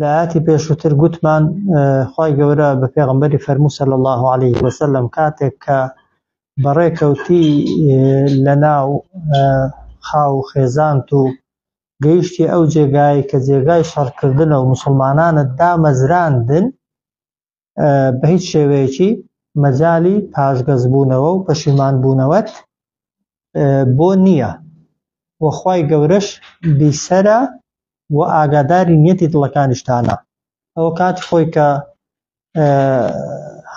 لە ئاتی پێشووتر گوتمان خی گەورە بە پێغمبەری فەرموو سەل الله عليه وسلم کاتێک کە بەڕێکەوتی لە ناو خاو خێزانت و گەیشتی ئەو جێگای کە جێگای شەڕکردنە و مسلمانانت دامەزراندن بە هیچ شێوەیەکی مەجای پاشگەزبوونەوە و پەشیمانبوونەوەت بۆ نییە وەخوای گەورەش بیسەرە و ئاگاداری نیەتی دڵەکانیشتانە ئەوە کات خۆی کە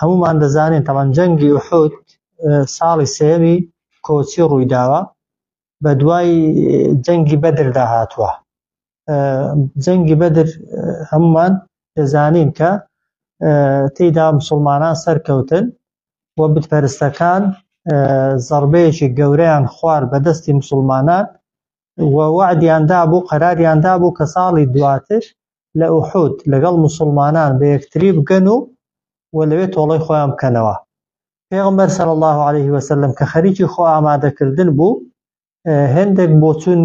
هەمومان دەزانین تەمان جەنگی وحود ساڵی سێوی کۆچی ڕوویداوە بە دوای جەنگی بەدردا هاتووە جەنگی بەدر هەمومان دەزانین کە تێیدا مسلمانان سەرکەوتن و بتپەرستەکان زەڕبەیەکی گەورەیان خوار بە دەستی مسلمانان و وعدیاندا بوو قەراریاندا بوو کە ساڵی دواتر لە ئوحود لەگەڵ مسلمانان بە یەکتری بگەن و و لەوێ تۆڵەی خۆیان بکەنەوە پێغمبەر سەر الله عليه وسلم کە خەریکی خۆ ئامادەکردن بوو هەندێک بۆچون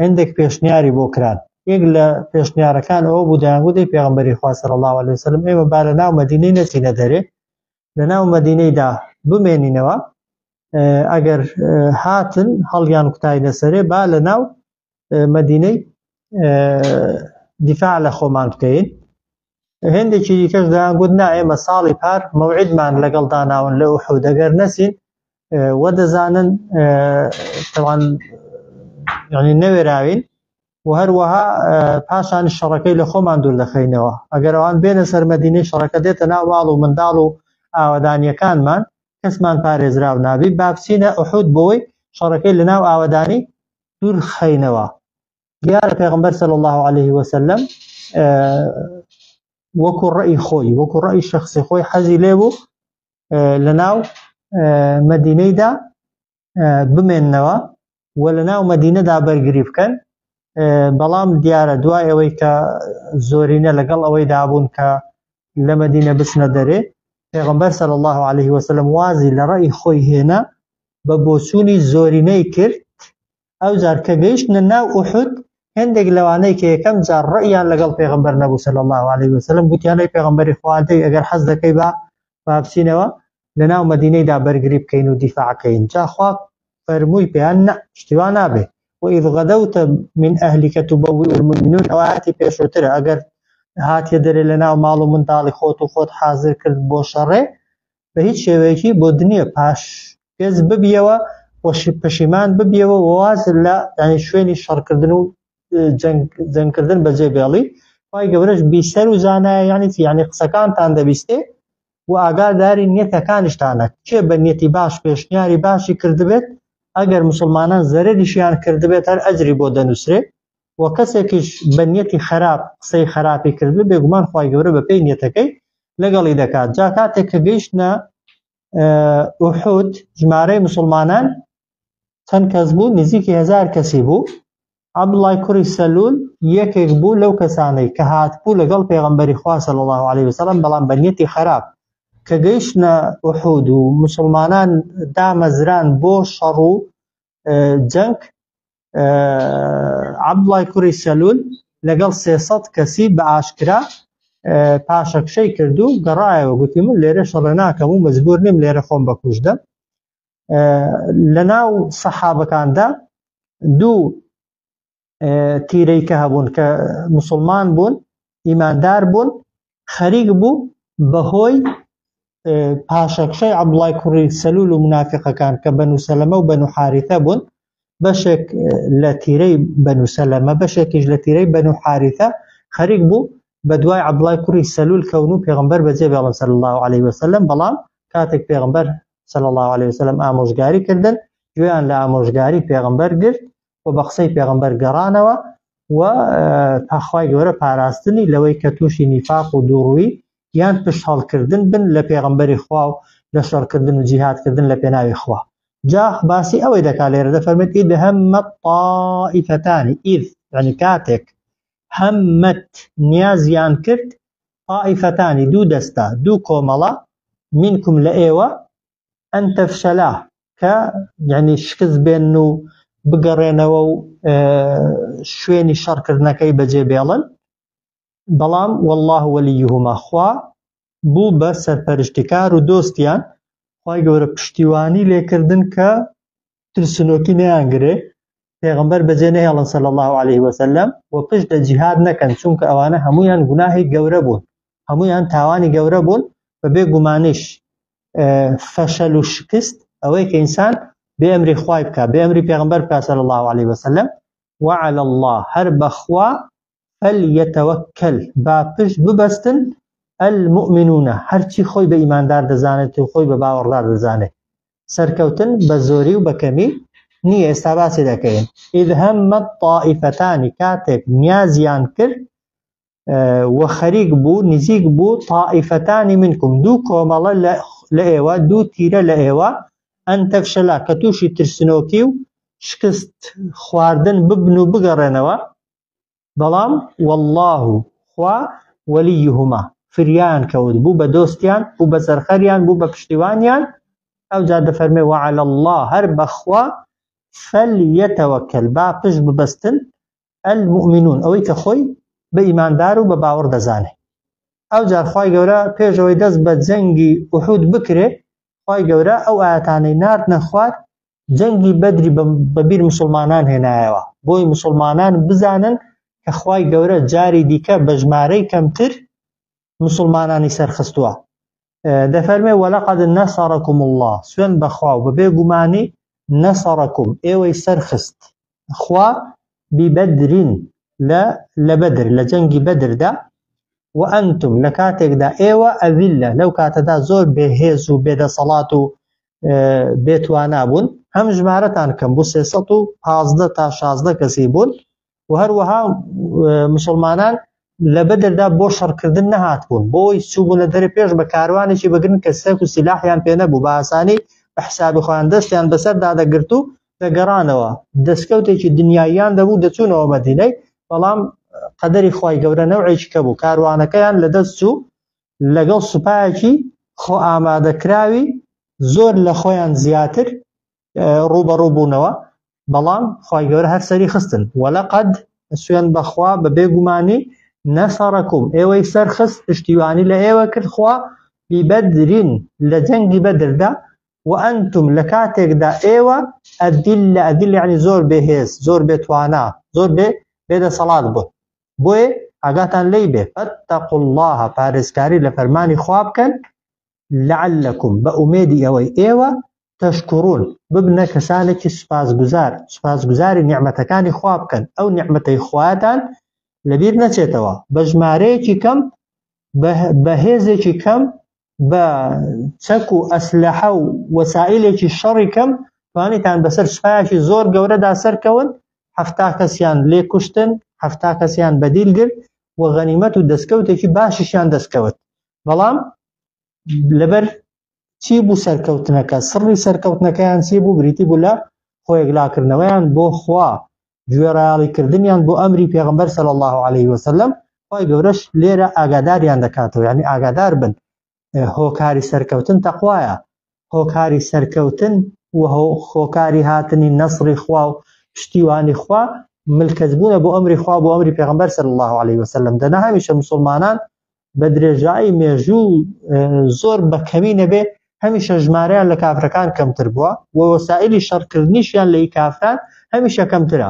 هەندێک پێشنیاری بۆ کران یەک لە پێشنیارەکان ئەوە بوو دەیانگوتی پێغمبەری خواسەر الله عليه وسلم ئێمە با لە ناو مدینەی نەچینە دەرێ لە ناو مدینەیدا بمێنینەوە ئەگەر هاتن هەڵیان کوتای لەسەرێ با لە ناو مدینەی دیفاع لە خۆمان بکەین هێندێکی دیکەش دەیان گوت نا ئێمە ساڵی پار مەوعیدمان لەگەڵ داناون لە ئوحود دەگەر نەچین وە دەزانن تەوان ینی نەوێراوین و هەروەها پاشان شەڕەکەی لە خۆمان دوور دەخەینەوە ئەگەر ئەوان بێنە سەرمەدینەی شەڕەکە دێتە ناو ماڵ و منداڵ و ئاوادانیەکانمان کەسمان پارێزراو نابی بابچینە ئوحود بۆی شەڕەکەی لە ناو ئاوادانی دوور خەینەوە دیارە پێغمبەر صلی الله عليه وسلم وەکو ڕئی خۆی وەکو ڕئی شخصی خۆی حەزی لێ بوو لە ناو مدینەیدا بمێنەوە و لە ناو مدینەدا بەرگری بکەن بەڵام دیارە دوای ئەوەی کە زۆرینە لەگەڵ ئەوەی دابوون کە لە مدینە بچنە دەرێ پێغمبەر صلی الله عليه وسلم وازی لە ڕئی خۆی هێنا بە بۆچوونی زۆرینەی کرد ئەوجار کە گەیشتنە ناو ئوحود هەندێک لەوانەی کە یەکەم جار ڕەئیان لەگەڵ پێغەمبەر نەبوو صلی الله علیه وسلم گوتیان ئەی پێغەمبەری خوا دەی ئەگەر حەز دەکەی با بابچینەوە لەناو مەدینەیدا بەرگری بکەین و دیفاعکەین جاخوا فەرمووی پێیان نە شتیوا نابێ وإذ غدوت من أهلك تبوئ المؤمنون ئەو ئاەتی پێشوترە ئەگەر هاتیە دەرێ لە ناو ماڵ و منداڵی خۆت و خۆت حاضر کرد بۆ شەڕێ بە هیچ شێوەیەکی بۆ دنیە پاش پێز ببیەوە وەشی پەشیمان ببیەوە واز لە ینی شوێنی شەڕکردن و جەنگکردن بە جێ بێڵی خی گەورەش بیسەر و زانایە یانی یانی قسەکانتان دەبیستێ و ئاگاداری نیەتەکانیشتانە کێ بە نیەتی باش پێشنیاری باشی کردبێت ئەگەر مسلمانان زەرریشیان کردبێت هەر ئەجری بۆ دەنووسێ وە کەسێکیش بە نیەتی خەراپ قسەی خەراپی کردبێ بێگومان خوای گەورە بە پێی نیەتەکەی لەگەڵی دەکات جا کاتێک کە گەیشتە ئوحود ژمارەی مسلمانان چەند کەس بوو نزیکی هزار کەسی بوو عبدڵای کوری سەلول یەکێک بوو لەو کەسانەی کە هاتبوو لەگەڵ پێغمبەری خواسە لە الله عليه وسلم بەڵام بەنیەتی خراپ کە گەیشتە ئوحود و مسلمانان دامەزران بۆ شەڕ و جەنگ عەبدوڵای کوڕی سەلول لەگەڵ سێسەد کەسی بە ئاشکرا پاشەکشەی کرد و گەڕایەوە گوتی من لێرە شەڕێ ناکەم و مجبور نیم لێرە خۆم بەکوشدەم لە ناو سەحابەکاندا دوو تیرەی کە هەبوون کە مسلمان بوون ئیماندار بوون خەریک بوو بەهۆی پاشەکشەی عەبدوڵای کوڕی سەلول و منافقەکان کە بەنو سەلەمە و بەنو حارثە بوون بەشێک لە تیرەی بەنو سەلەمە بەشێکیش لە تیرەی بەنو حارثە خەریک بوو بە دوای عبدڵای کوڕی سەلول کەون و پێغمبەر بەجێ بێڵن سەر الله عليه وسلم بەڵام کاتێک پێغمبەر سەل الله عليه وسلم ئامۆژگاری کردن گوێیان لە ئامۆژگاری پێغمبەر گرت و بە قسەی پێغمبەر گەڕانەوە و پاخوای گەورە پاراستنی لەوەی کە تووشی نیفاق و دووڕووی یان پشت هەڵکردن بن لە پێغمبەری خوا و لە شەڕکردن و جیهاتکردن لە پێناوی خوا جا باسی ئەوەی دەکات لێرە دەفەرمێت ئید هەممە تائیفەتانی ئید یعنی کاتێک هەممەت نیازیان کرد تائیفەتانی دوو دەستە دوو کۆمەڵە منکم لە ئێوە ئەن تەفشەلا کە یعنی شکست بێن و بگەڕێنەوە و شوێنی شەڕکردنەکەی بەجێ بێڵن بەڵام والله وەلیهما خوا بوو بە سەرپەرشتکار و دۆستیان خی گەورە پشتیوانی لێکردن کە ترسنۆکی نەیان گرێ پێغمبەر بەجێ نەهێڵن سەل الله عليه وسلم و پشت لە جیهاد نەکەن چونکە ئەوانە هەمویان گوناهی گەورە بوون هەمویان تاوانی گەورە بوون بە بێ گومانیش فەشەل و شکست ئەوەی کە ئینسان بێ ئەمری خوای بکە بێ ئەمری پێغمبەر بکە سەل الله عليه وسلم وعلى الله هەر بەخوا فلیتوکل، با پشت ببەستن، المومنون، هەرچی خۆی بە ئیماندار دەزانێت و خۆی بە باوەڕدار دەزانێت. سەرکەوتن بە زۆری و بە کەمی نییە، ئێستا باسی دەکەین. اذ هم الطائفتان، کاتێک نیازیان کرد و خەریک بوو، نزیک بوو، طائفتان منکم، دوو کۆمەڵە لە ئێوە، دوو تیرە لە ئێوە، ان تفشلا، کە تووشی ترسنۆکی و شکست خواردن ببن و بگەڕێنەوە، بەڵام وەڵڵا و خوا وەلیهما فریایان کەوت بوو بە دۆستیان بوو بە سەرخەریان بوو بە پشتیوانیان ئەو جا دەفەرمێ وعلى الله هەر بەخوا فەلیەتەوەکەل با پشت ببەستن المؤمنون ئەوەی کە خۆی بە ئیماندار و بە باوەڕ دەزانێ ئەو جارخوای گەورە پێشەوەی دەست بە جەنگی وحود بکرێ خی گەورە ئەو ئاەتانەی نرد نەخوارد جەنگی بەدری بەبیر مسلمانان هێنایەوە بۆی مسلمانان بزانن کە خوای گەورە جاری دیکە بە ژمارەی کەمتر مسلمانانی سەرخستووە دەفەرمێ وەلەقد نەسەڕکم الله سوێن بەخوا و بەبێ گومانی نەسەڕکم ئێوەی سەرخست خوا بیبەدرین لە لە بەدر لە جەنگی بەدردا و ئەنتم لە کاتێکدا ئێوە ئەویلە لەو کاتەدا زۆر بێهێز و بێدەسەڵات و بێتوانا بوون هەم ژمارەتان کەم بوو 315 تا 16 کەسی بوون و هەروەها مسلمانان لە بەدەردا بۆ شەڕکردن نەهات بوون بۆی چوبوونە دەرە پێش بە کاروانێکی بگرن کە سەک و سیلاحیان پێ نەبوو باسانی بە حسابی خۆیان دەستیان بەسەر دادەگرت و دەگەڕانەوە دەستکەوتێکی دنیاییان دەبوو دەچوونەوە مەدینەی بەڵام قەدەری خی گەورە نەوعێکی کە بوو کاروانەکەیان لە دەست چوو لەگەڵ سوپایەکی خۆئامادەکراوی زۆر لە خۆیان زیاتر ڕووبەڕوو بوونەوە بەڵام خی گەورە هەر سەری خستن وەلە قەد سوێن بەخوا بە بێگومانی نەسەڕکم ئێوەی سەرخست پشتیوانی لە ئێوە کرد خوا بیبەدرین لە جەنگی بەدردا و ئەنتم لە کاتێکدا ئێوە ئەدیل لە ئەدیل یعنی زۆر بێهێز زۆر بێتوانە زۆر بێ بێدەسەڵات بوون بۆیە ئاگاتان لی بێ فاتقوا الله پارێزکاری لە فەرمانی خوا بکەن لعلکم بە ئومێدی ئەوەی ئێوە تەشکڕون ببنە کەسانێکی سوپاسگوزار سوپاسگوزاری نیعممەتەکانی خوا بکەن ئەو نیعممەتەی خواتان لەبیر نەچێتەوە بە ژمارەیەکی کەم بە هێزێکی کەم بە چەک و ئەسلحە و وەسائلێکی شەڕی کەم توانیتان بەسەر سوپایەکی زۆر گەورەدا سەرکەون هەفتا کەسیان لێ کوشتن هەفتا کەسیان بەدیل گرت و غەنیمەت و دەستکەوتێکی باشیشیان دەستکەوت بەڵام لەبەر چی بوو سەرکەوتنەکە سڕی سەرکەوتنەکەیان چی بوو بریتی بوو لە خۆیەکلاکردنەوەیان بۆ خوا گوێڕایەڵی کردنیان بۆ ئەمری پێغمبەر سەل الله عليه وسلم خی گەورەش لێرە ئاگاداریان دەکاتەوە یعنی ئاگادار بن هۆکاری سەرکەوتن تەخوایە هۆکاری سەرکەوتن و خۆکاری هاتنی نەسری خوا و پشتیوانی خوا ملکەزبوونە بۆ ئەمری خوا بۆ ئەمری پێغمبەر سەل الله عليه وسلم دەنا هەمیشە مسلمانان بە درێژایی مێژوو زۆر بەکەمی نەبێ هەمیشە ژمارەیان لە کافرەکان کەمتر بووە و وەسائلی شەڕکردنیشیان لە کافران هەمیشە کەمترە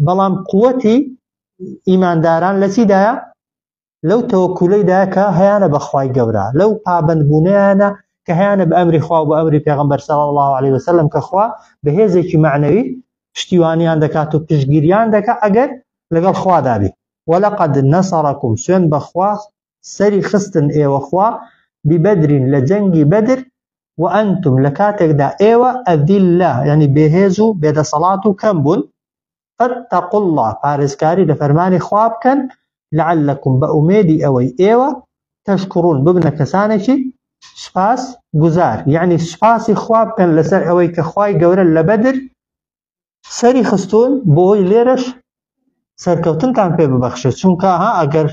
بەڵام قوەتی ئیمانداران لە چیدایە لەو تەوەکولەیدا کە هەیانە بەخوای گەورە لەو پابندبوونیانە کە هەیانە بە ئەمری خوا بە ئەمری پێغمبەر سەڵ الله عليه وسلم کە خوا بە هێزێکی معنەوی پشتیوانیان دەکات و پشگیریان دەکات ئەگەر لەگەڵ خوادابی ولقد نصرکم سوێند بەخوا سەری خستن ئێوە خوا ببدرین لە جەنگی بەدر وانتم لە کاتێکدا ئێوە اذلە یعنی بێهێز و بێدەسەڵات و کەم بوون فاتقوا الله پارێزکاری لە فەرمانی خوا بکەن لعلکم بە ئومێدی ئەوەی ئێوە تشکرون ببنە کەسانێکی سپاس گوزار یعنی سپاسی خوا بکەن لەسەر ئەوەی کە خوای گەورە لە بەدر سەری خستوون بۆی لێرەش سەرکەوتنتان پێ ببەخشێت چونکە ها ئەگەر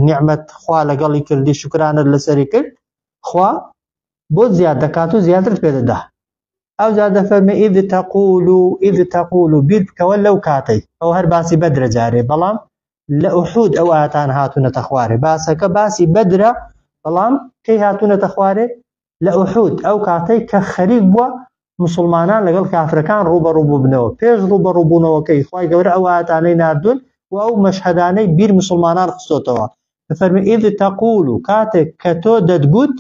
نیعممەت خوا لەگەڵی کردی شکرانت لەسەری کرد خوا بۆ زیاد دەکات و زیاتر پێدەدا ئەو جا دەفەرمی ئید تەقول و ئید تەقول و بیر بکەوە لەو کاتەی ئەو هەر باسی بەدرە جارێ بەڵام لە ئوحود ئەو ئاتان هاتوونەتە خوارێ باسەکە باسی بەدرە بەڵام کەی هاتوونەتە خوارێ لە ئوحود ئەو کاتەی کە خەریک بووە مسلمانان لەگەڵ کافرەکان ڕوبەڕوو ببنەوە پێش ڕوبەڕووبوونەوەکەی خی گەورە ئەو ئاەتانەی نردون و ئەو مەشهدانەی بیر مسلمانان خستۆتەوە فەرمی ئید تەقول و کاتێک کە تۆ دەتگوت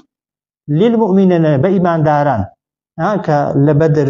لیل مؤمنە بە ئیمانداران کە لە بەدر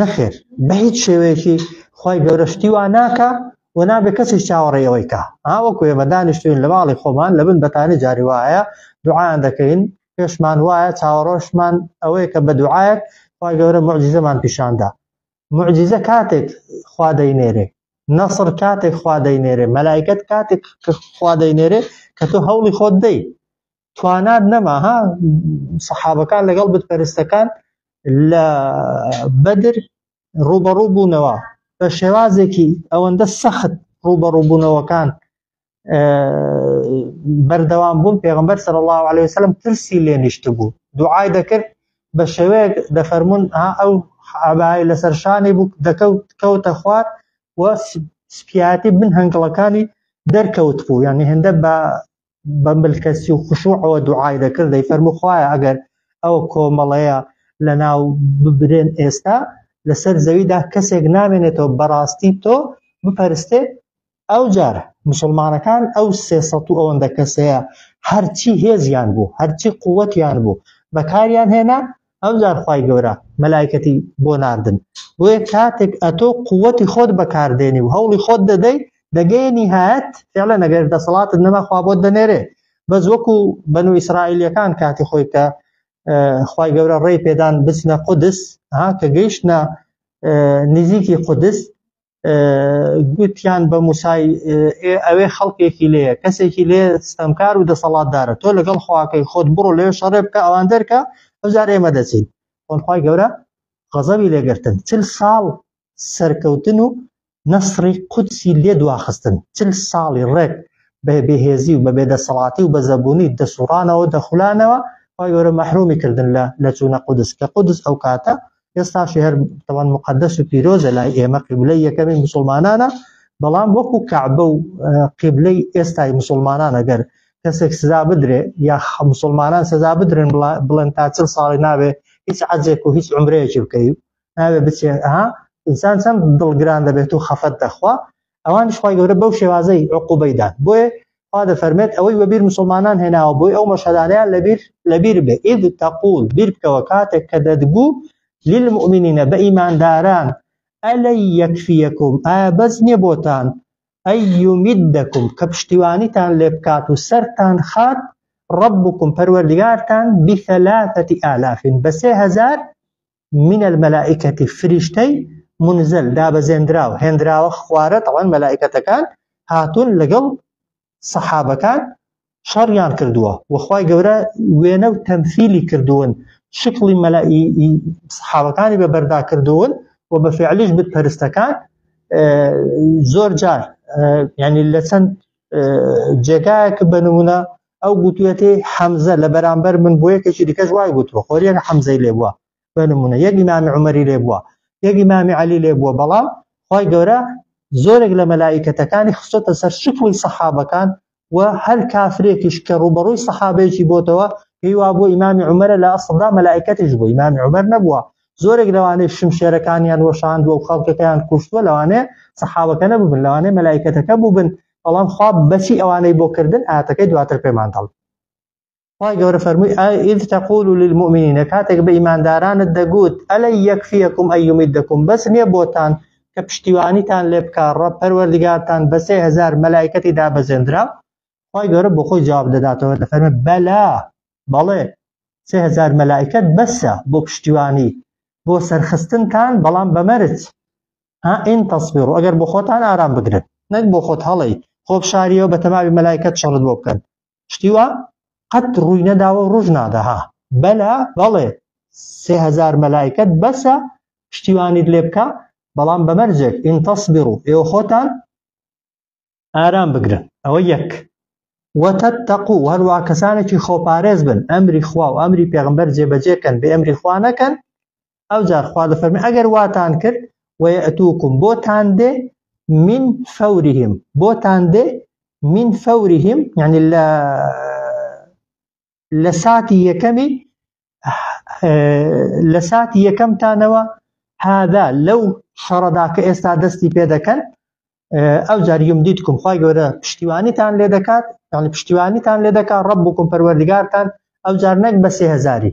نەخێر بە هیچ شێوەیەکی خی گەورە شتی وا ناکە و نابێ کەسی چاوەڕێەوەی کا ئاوەکو ئێمە دانیشتوین لە ماڵی خۆمان لە بن بەتانی جاری وایە دوعاان دەکەین پێشمان وایە چاوەڕۆشمان ئەوەیە کە بە دوعاەت خی گەورە معجززەمان پیشاندا معجززە کاتێک خوا دەینێرێ نەسر کاتێک خوا دەینێرێ مەلایکت کاتێک کە خوا دەینێرێ کە تۆ هەوڵی خۆت دەی توانات نەما ها سەحابەکان لەگەڵ بتپەرستەکان لە بەدر ڕوبەڕوو بوونەوە بە شێوازێکی ئەوەندە سەخت ڕوبەڕووبوونەوەکان بەردەوام بوون پێغمبەر سەر الله عليه وسلم ترسی لێ نیشت بوو دوعای دەکرد بە شێوەیەک دەفەرمونون ها ئەو عبای لەسەر شانی بوو دەکەوت کەوتە خوارد و سپیاتی بن هەنگڵەکانی دەرکەوت بوو یان هێندە بە بە ملکەسی و خشوعەوە دوعای دەکرد دەی فەرمو خوایە ئەگەر ئەو کۆمەڵەیە لە ناو ببرێن ئێستا لەسەر زەویدا کەسێک نامێنێتەوە بەڕاستی تۆ بپەرستێ ئەو جار مسلمانەکان ئەو سێ سەد و ئەوەندە کەسەیە هەرچی هێزیان بوو هەرچی قووەتیان بوو بەکاریان هێنا ئەو زارخوای گەورە مەلایکەتی بۆ ناردن بۆیە کاتێک ئەتۆ قوتی خۆت بەکاردێنی و هەوڵی خۆت دەدەی دەگەی نهایەت فعلە نەگەر دەسەڵاتت نەما خوا بۆت دەنێرێ بەس وەکو بەن و ئیسرائیلەکان کاتی خۆی کە خی گەورە ڕێی پێدان بچنە قودس ها کە گەیشتە نزیکی قودس گوتیان بە موسای ئەوێ خەڵکێکی لێ کەسێکی لێ ستەمکار و دەسەڵاتدارە تۆ لەگەڵ خواکەی خۆت بڕۆ لێ شەڕێ بکە ئەوان دەرکە ئەوجار ئێمە دەچین خۆنخوای گەورە غەزەوی لێگرتن چل ساڵ سەرکەوتن و نەسری قودسی لێ دواخستن چل ساڵی ڕێک بە بێهێزی و بە بێدەسەڵاتی و بە زەبوونی دەسوڕانەوە دەخولانەوە خۆی گەورە مەحرومی کردن لە لە چوونە قودس کە قودس ئەو کاتە ئێستاشی هەر تەوان مقدس و پیرۆزە لای ئێمە قیبلەی یەکەمی مسلمانانە بەڵام وەکو کەعبە و قیبلەی ئێستای مسلمانانە گەر کەسێک سزا بدرێ یا مسلمانان سزا بدرن بڵێن تا چل ساڵی ناوێ هیچ عەجێک و هیچ عمرەیەکی بکەی ناوێ بچێ ها ئینسان چەند دڵگران دەبێت و خەفەت دەخوا ئەوانش خوای گەورە بەو شێوازەی عقوبەی دان بۆیە خوا دەفەرمێت ئەوەی وەبیر مسلمانان هێناوە بۆی ئەو مەشهدانیان لەبیر لەبیر بێ ئید تەقول بیر بکەوە کاتێک کە دەدگو للمؤمنین بە ئیمانداران ئەلەی یەکفیەکم ئا بەس نییە بۆتان ئەی یومیدەکم کە پشتیوانیتان لێ بکات و سەرتان خات ڕبکم پەروەردگارتان بثلاثەتی ئالافین بە سێ هەزار من الملائکە فریشتەی منزل دابەزێنراو هێنراوە خوارە تەوان مەلائکەتەکان هاتون لەگەڵ سەحابەکان شەڕیان کردووە وەخوای گەورە وێنە و تەمفیلی کردوون شکڵی مەلائی سحاوەکانی بە بەردا کردوون و بە فعلیش بت پەرستەکان زۆر جار ینی لە چەند جێگایەک بە نمونە ئەو گوتوێتی حەمزە لە بەرامبەر من بۆ یەکێکی دیکەش وای گوتوە خۆریەک حەمزەی لێ بووە بە نمونە یەکی مامی عمەری لێ بووە یەکی مامی علی لێ بووە بەڵام خی گەورە زۆرێک لە مەلایکەتەکانی خستۆتە سەر شکوی سەحابەکان و هەر کافرێکیش کە ڕوبەڕووی سەحابێکی بۆتەوە پێی وا بۆ ئیمامی عمەرە لە ئەسڵدا مەلایکەتیش بۆ ئیمامی عمەر نەبووە زۆرێک لەوانەی شمشێرەکانیان وەشاند و خەڵکەکەیان کوشتوە لەوانێ سەحاوەکە نەبوون لەوانێ مەلایکەتەکە بووبن بەڵام خوا بەچی ئەوانەی بۆ کردن ئاتەکەی دواتر پێمان دەڵ خی گەورە فەرمووی ئید تەقول و للمؤمنینە کاتێک بە ئیماندارانت دەگوت ئەلە یەکفیەکم ئەیومیت دەکم بەس نییە بۆتان کە پشتیوانیتان لێ بکە ڕە پەروەردگارتان بەسێ هزار مەلایکەتی دابەزێنرا خی گەورە بۆ خۆی جواب دەداتەوە دەفەرمە بەلا بەڵێ سێ هزار مەلایکەت بەسە بۆ پشتیوانی بۆ سەرخستنتان بەڵام بەمەرج ها ان تصبروا ئەگەر بۆ خۆتان ئارام بگرن نەک بۆ خۆت هەڵی خۆ بشاریەوە بە تەماوی مەلایکەت شەڕت بۆ بکەن شتی وا قەت ڕووی نەداوە ڕژ نادەها بەلا بەڵێ سێ هزار مەلایکەت بەسە شتیوانیت لێ بکە بەڵام بەمەرجێک ئینتەسبڕ و ئێوە خۆتان ئارام بگرن ئەوە یەک وەتەت تەقو و هەروە کەسانێکی خۆپارێز بن ئەمری خوا و ئەمری پێغمبەر جێبەجێکەن بێ ئەمری خوا نەکەن ئەو جار خوا دەفەرمی ئەگەر واتان کرد وەتوکم بۆتان دێ من فەوریم بۆتان دێ من فەوریم یعنی لە لە ساتی یەکەمی لە ساتی یەکەمتانەوە هادا لەو شەڕەدا کە ئێستا دەستی پێ دەکەن ئەو جار یوم دیتکم خی گەورە پشتیوانیتان لێ دەکات یعنی پشتیوانیتان لێ دەکات ڕب بکم پەروەردگارتان ئەو جار نەک بە سێهزاری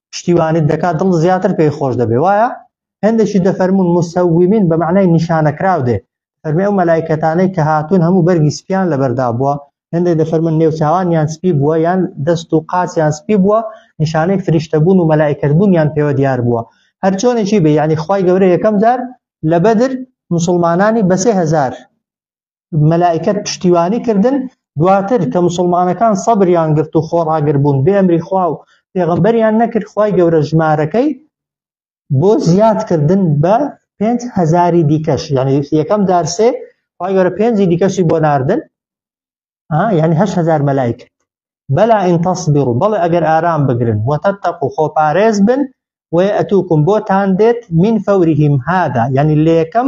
پشتیوانیت دەکات دڵ زیاتر پێی خۆش دەبێ وایە هەندێکی دەفەرمون مسەویمین بە معنای نیشانەکراو دێ فەرمی ئەو مەلایکەتانەی کە هاتوون هەموو بەرگی سپیان لەبەردا بووە هەندێک دەفەرمون نێوچاوانیان سپی بووە یان دەست و قاچیان سپی بووە نیشانەی فریشتەبوون و مەلایکەتبوونیان پێوە دیار بووە هەر چۆنێکی بێ یعنی خی گەورە یەکەم جار لە بەدر مسلمانانی بەسێ هزار مەلائکەت پشتیوانی کردن دواتر کە مسلمانەکان سەبریان گرت و خۆڕاگر بوون بێ ئەمری خوا و پێغمبەریان نەکرد خی گەورە ژمارەکەی بۆ زیادکردن بە پێنج هزاری دیکەش یعنی یەکەم دارسێ خی گەورە پێنجی دیکەشی بۆ ناردن یعنی هه هزار مەلایکە بەلا ئین تەصبر و بەڵێ ئەگەر ئارام بگرن وتەتەق و خۆپارێز بن وەتوکم بۆتان دێت من فەوریهم هادا یعنی لە یەکەم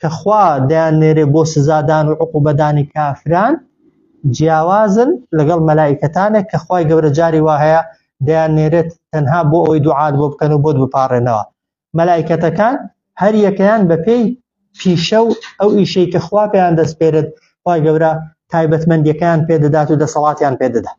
کە خوا دەیاننێرێ بۆ سزادان و عقوبەدانی کافران جیاوازن لەگەڵ مەلایکەتانێک کە خوای گەورە جاری وا هەیە دەیان نێرێت تەنها بۆ ئەوەی دوعات بۆ بکەن و بۆت بپارڕێنەوە مەلایکەتەکان هەر یەکەیان بەپێی پیشە و ئەو ئیشەی کە خوا پێیان دەستپێرت خوای گەورە تایبەتمەندیەکان پێدەدات و دەسەڵاتیان پێدەدات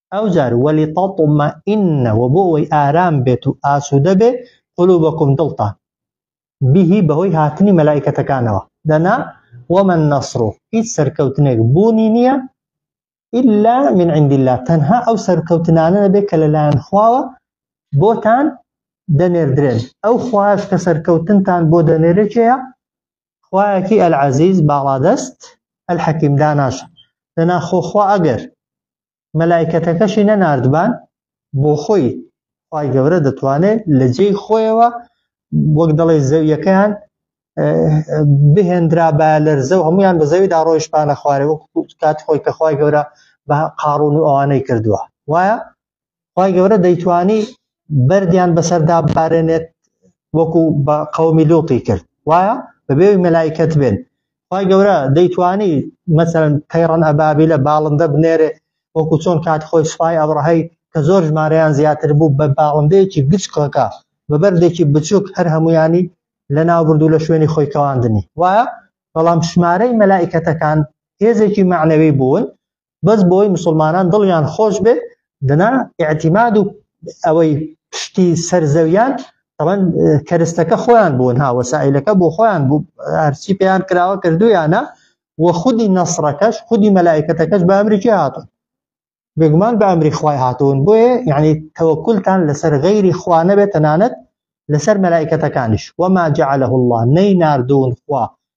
ئەوجار وەلی تەڵتمە ئینە و بۆ ئەوەی ئارام بێت و ئاسوودە بێ قلوبەکم دڵتان بهی بەهۆی هاتنی مەلایکەتەکانەوە دەنا وەمەن نەسڕ و هیچ سەرکەوتنێک بوونی نییە ئللا من عند الله تەنها ئەو سەرکەوتنانە نەبێت کە لەلایەن خواوە بۆتان دەنێردرێن ئەو خوایش کە سەرکەوتنتان بۆ دەنێرێکەیە خوایەکی العزیز باڵادەست الحکیم داناش دەنا خۆ خوا ئەگەر مەلایکەتەکەشی نەناردبان بۆ خۆی خوای گەورە دەتوانێت لە جێی خۆیەوە وەک دەڵێ زەویەکەیان بهێنرا بە لەرزە و هەمویان بە زەویدا ڕۆیشتانە خوارێ وەک کات خۆی کە خخوای گەورە بە قاڕون و ئەوانەی کردووە وایە خی گەورە دەیتوانی بەردیان بەسەردا بارێنێت وەکو بە قەومی لوتی کرد وایە بەبێ مەلایکەت بێن خی گەورە دەیتوانی مەسەن تەیڕەن ئەبابی لە باڵندە بنێرێ وەکو چۆن کات خۆی سوپای ئەوڕەهەی کە زۆر ژمارەیان زیاتر بوو بە باڵندەیەکی گچکەکە بە بەردێکی بچووک هەر هەمویانی لە ناوبردو لە شوێنی خۆی کەواندنی وایە بەڵام ژمارەی مەلایکەتەکان هێزێکی معنەوی بوون بەس بۆی مسلمانان دڵیان خۆش بێت دەنا اعتیماد و ئەوەی پشتی سەرزەویان طبعا کەرستەکە خۆیان بوون ها وەسائلەکە بۆ خۆیان بوو هەرچی پێیان کراوە کردویانە و خودی نەسڕەکەش خودی مەلایکەتەکەش بە ئەمریکی هاتون بێگومان بە ئەمری خوای هاتوون بۆیە یعنی تەوەکلتان لەسەر غەیری خوا نەبێت تەنانەت لەسەر مەلایکەتەکانیش وەما جعله الله نەی نردون خوا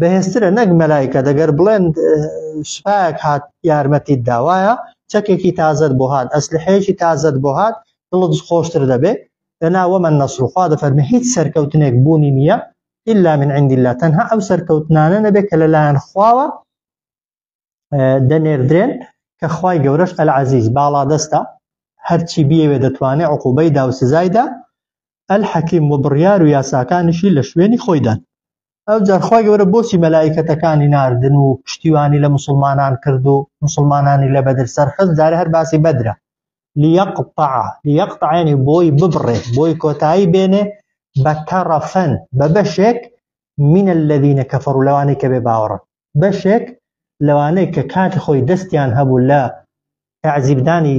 بەهێزترە نەک مەلایکە دەگەر بڵێن سوپایەک هات یارمەتیت داوایە چەکێکی تازت بۆ هاات ئەسلحەیەکی تازت بۆ هاات دڵت خۆشتر دەبێ لەنا وەمە نەسرخوا دەفەرمە هیچ سەرکەوتنێک بوونی نییە إلا من عند الله تەنها ئەو سەرکەوتنانە نەبێت کە لەلایەن خواوە دەنێردرێن کە خی گەورەش ئەل عزیز باڵا دەستە هەرچی بیەوێ دەتوانێت عقوبەی دا و سزایدا ئەل حەکیم و بڕیار و یاساکانیشی لە شوێنی خۆیدان ئەو جارخوای گەورە بۆچی مەلایکەتەکانی ناردن و پشتیوانی لە مسلمانان کرد و مسلمانانی لە بەدر سەرخست جارە هەر باسی بەدرە لیقطع لیقطعێنی بۆی ببڕێ بۆی کۆتایی بێنێ بە تەڕەفەن بە بەشێک من الذين كفروا لەوانەی کە بێ باوەڕن بەشێک لەوانەی کە کاتی خۆی دەستیان هەبوو لە تعزیبدانی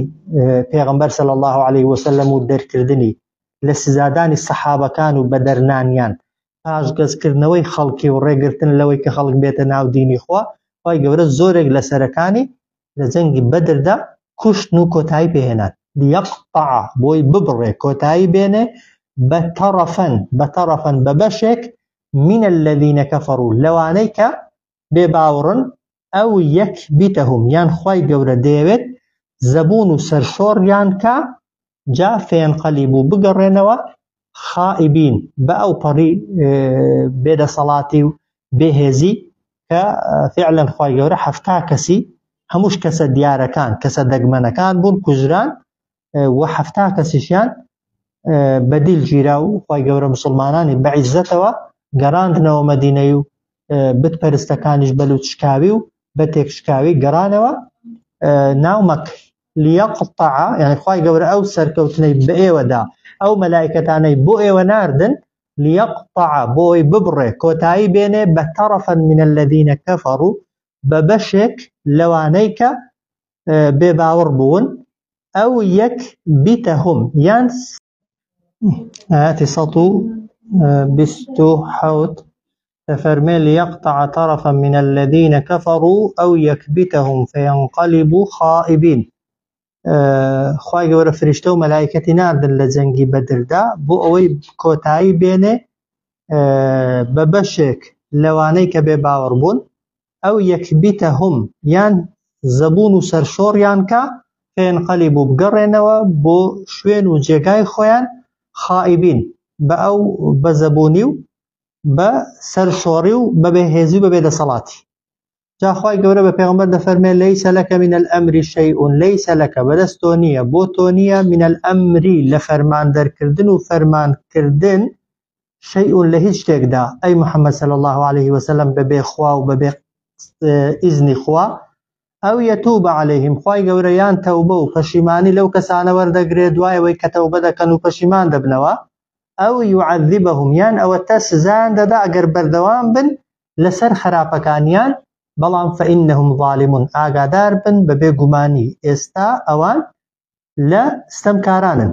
پێغمبەر سەل الله عليه وسلم و دەرکردنی لە سزادانی سەحابەکان و بەدەرنانیان پاشگەزکردنەوەی خەڵکی و ڕێگرتن لەوەی کە خەڵک بێتە ناو دینی خوا خی گەورە زۆرێک لە سەرەکانی لە جەنگی بەدردا کوشتن و کۆتایی پێهێنان یەقطع بۆی ببڕێ کۆتایی بێنێ بە تەڕەفەن بە تەڕەفەن بە بەشێک من الذین کفروا لەوانەی کە بێ باوڕن ئەو یەک بیتەهم یان خی گەورە دەیەوێت زەبوون و سەرشۆڕیان کە جا فێنقەلی بوو بگەڕێنەوە خائبین بە ئەو پەڕی بێدەسەڵاتی و بێهێزی کە فعلەن خی گەورە هەفتا کەسی هەمووش کەسە دیارەکان کەسە دەگمەنەکان بوون کوژران و حەفتا کەسیشیان بەدیل گیرا و خی گەورە مسلمانانی بەعیزەتەوە گەڕاندنەوە مەدینەی و بت پەرستەکانیش بەلووت شکاوی و بە تێکشکاوی گەڕانەوە ناو مەک لیەقطع یعنی خی گەورە ئەو سەرکەوتنەی بە ئێوەدا ئەو مەلایکەتانەی بۆ ئێوە ناردن لیەقطع بۆی ببڕێ کۆتایی بێنێ بە تەڕەفەن منە لەدینە کەفەڕ و بە بەشێک لەوانەی کە بێباوەڕ بوون ئەو یەک بیتە هم یان ئاتی سەد و بیست و حەوت دەفەرمێ لیەقطع طرفا من الذين كفروا أو يكبتهم فينقلبوا خائبين خوای گەورە فریشتە و مەلایکەتی ناردن لە جەنگی بەدردا بۆ ئەوەی کۆتایی بێنێ بە بەشێک لەوانەی کە بێ باوەڕ بوون ئەو یەکبیتەهم یان زەبوون و سەرشۆڕیان کا فەینقەلیبوو بگەڕێنەوە بۆ شوێن و جێگای خۆیان خائیبین بە ئەو بە زەبوونی و بە سەرشۆڕی و بە بێهێزی و بە بێدەسەڵاتی جا خوای گەورە بە پێغەمبەر دەفەرمێ لەیسە لەکە من الامری شیئون لەیسە لەکە بەدەست تۆ نییە بۆ تۆ نییە من الامری لە فەرمان دەرکردن و فەرمانکردن شیء لە هیچ شتێکدا، ئەی محمد صلی اللە علیه وسلم بەبێ خوا و بەبێ ئیزنی خوا، ئەو یتوب علیهم خوای گەورە یان تەوبە و پەشیمانی لەو کەسانە وەردەگرێ دوای ئەوەی کە تەوبە دەکەن و پەشیمان دەبنەوە، ئەو یعذبهم یان ئەوەتە سزایان دەدا ئەگەر بەردەوام بن لەسەر خەراپەکانیان، بەڵام فانهم ظالمون ئاگادار بن بەبێ گومانی ئێستا ئەوان لە ستەمکارانن.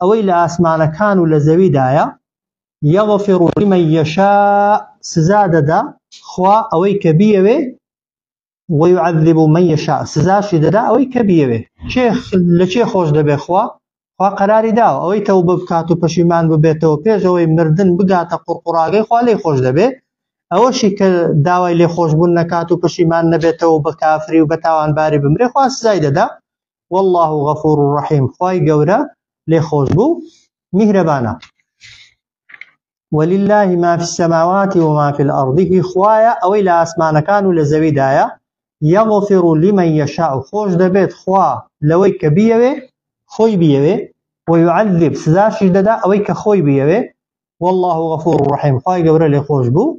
ئەوەی لە ئاسمانەکان و لە زەویدایە یەغفر لمن یشاء سزا دەدا خوا ئەوەی کە بیەوێ ويعذب من يشاء سزاشی دەدا ئەوەی کە بیەوێ چێ لە چێ خۆش دەبێ خوا خوا قەراری داوە ئەوەی تەو بکات و پەشیمان ببێتەوە پێشەوەی مردن بگاتە قوڕقڕاگەی خوا لێ خۆش دەبێ ئەوەشی کە داوای لێ خۆشببوون نەکات و پەشیمان نەبێتەوە بە کافری و بە تاوانباری بمرێ خوا سزای دەدا واللە غفور رحیم خوای گەورە لێ خۆش بوو میهرەبانە ولله ما في السماوات وما في الارض هی خوایە ئەوەی لە ئاسمانەکان و لە زەویدایە یغفر لمن یشاء خۆش دەبێت خوا لەوەی کە بیەوێ خۆی بیەوێ ويعذب سزاشی دەدا ئەوەی کە خۆی بیەوێ والله غفور رحیم خوای گەورە لێ خۆش بوو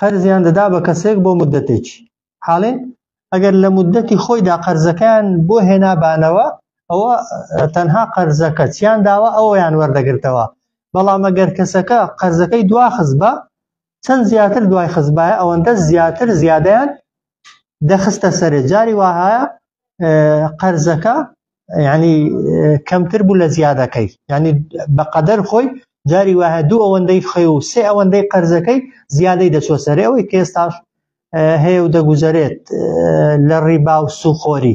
قەرزیان دەدا بە کەسێک بۆ مدەتێکی حاڵێ ئەگەر لە مدەتی خۆیدا قەرزەکان بۆ هێنابانەوە ئەوە تەنها قەرزەکە چیان داوە ئەویان وەردەگرتەوە بەڵام ئەگەر کەسەکە قەرزەکەی دواخز بە چەند زیاتر دوای خزبایە ئەوەندە زیاتر زیادیان دەخستە سەرێ جاری وهایە قەرزەکە ینی کەمتر بوو لە زیادەکەی ینی بەقەدەر خۆی جاری وهە دوو ئەوەندەی خی و سێ ئەوەندەی قەرزەکەی زیادەی دەچۆ سەرێ ئەوەی کێستاش هەیە و دەگوزارێت لە ڕیبا و سوخۆری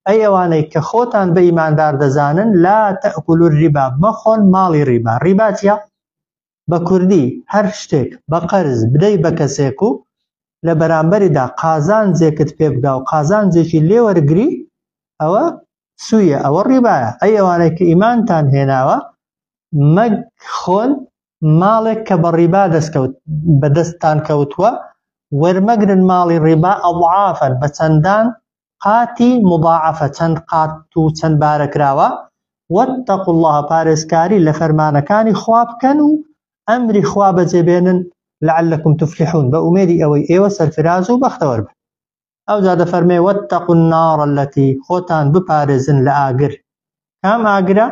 ئەی ئەوانەی کە خۆتان بە ئیماندار دەزانن لا تەکولور ریبا مەخۆن ماڵی ریبا ریباتە بە کوردی هەر شتێک بە قەرز بدەی بە کەسێک و لە بەرامبەریدا قازانجێکت پێ بگا و قازانجێکی لێ وەرگری ئەوە سویە ئەوە ڕیبایە ئەی ئەوانەی کە ئیمانتان هێناوە مەگ خۆن ماڵێک کە بە ڕیبا دەستکەوت بەدەستتان کەوتووە وەرمەگرن ماڵی ڕیبا ئەڵعافەن بە چەندان قاتی مضاعفە چەند قات و چەند بارە کراوە واتقوا اللە پارێزکاری لە فەرمانەکانی خوا بکەن و ئەمری خوا بەجێ بێنن لعلکم تفلحون بە ئومێدی ئەوەی ئێوە سەرفراز و بەختەوەر بن ئەو جا دەفەرمێ واتقوا النار التي خۆتان بپارێزن لە ئاگر کام ئاگرە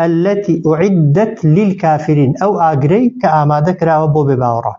التي اعدت للكافرين ئەو ئاگرەی کە ئامادە کراوە بۆ بێ باوەڕان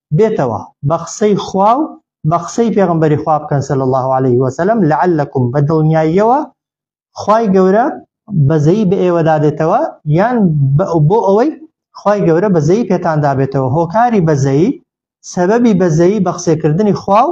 بێتەوە بە قسەی خوا و بە قسەی پێغەمبەری خوا بکەن صلی اللە علیه وسلم لعلکم بە دڵنیاییەوە خوای گەورە بەزەی بە ئێوەدا دێتەوە یان بۆ ئەوەی خوای گەورە بەزەی پێتان دابێتەوە هۆکاری بەزەی سەبەبی بەزەی بە قسەکردنی خوا و